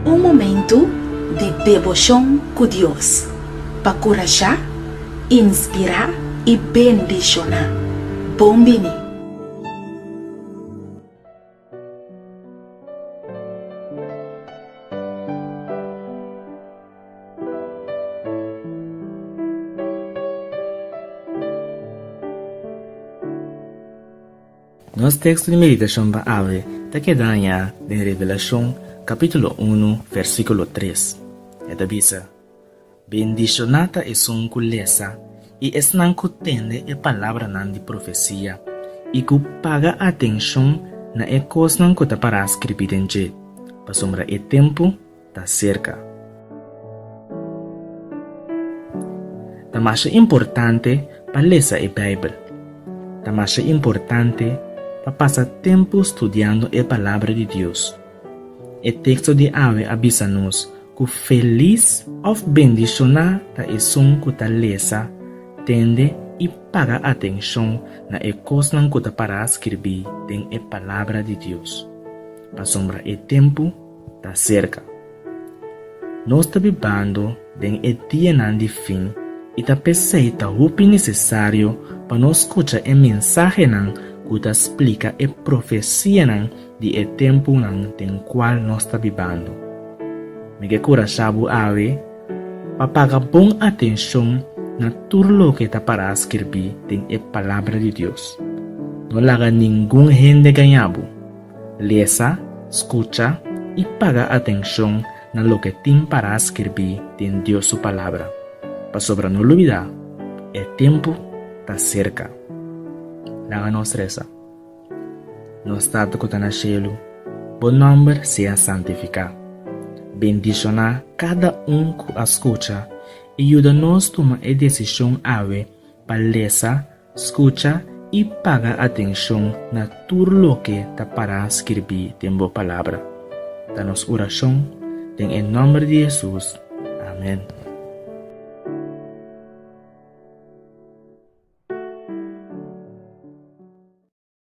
Un momentu di deboshon ku Dios pa kurashá, inspirá i bendishoná. Bon bini! Nos teksto di meditashon pa awe ta keda hañá den Revelashon kapítulo unu, vèrsikulo tres. E ta bisa, Bendishoná ta esun ku lesa i esnan ku tende e palabranan di profesia i ku paga atenshon na e kosnan ku ta pará skirbi den dje, pasobra e tempu ta serka. Ta masha importante pa lesa e Beibel. Ta masha importante pa pasa tempu studiando e Palabra di Dios. E teksto di awe a bisa nos ku felis òf bendishoná ta esun ku ta lesa, tende i paga atenshon na e kosnan ku ta pará skirbí den e Palabra di Dios, pasobra e tempu ta serka. Nos ta bibando den e dianan di fin i ta p'esei ta hopi nesesario pa nos skucha e mensahenan ku ta splika e profesianan di e tempunan den kual nos ta bibando. Mi ke kura sa bo awe pa paga bon atenshon na tur loke ta pará skirbí den e Palabra di Dios. No laga ningun hende gañá bo. Lesa, skucha i paga atenshon na loke tin pará skirbí den Dios su Palabra, pasobra no lubidá e tempu ta serka. Laga nos resa. Nos Tata ku ta na shelu, bo nòmber sea santifiká. Bendishoná kada un ku a skucha i yuda nos tuma e desishon awe pa lesa, skucha i paga atenshon na tur loke ta pará skirbí den bo Palabra, ta nos orashon den e nòmber di Hesus. Amèn.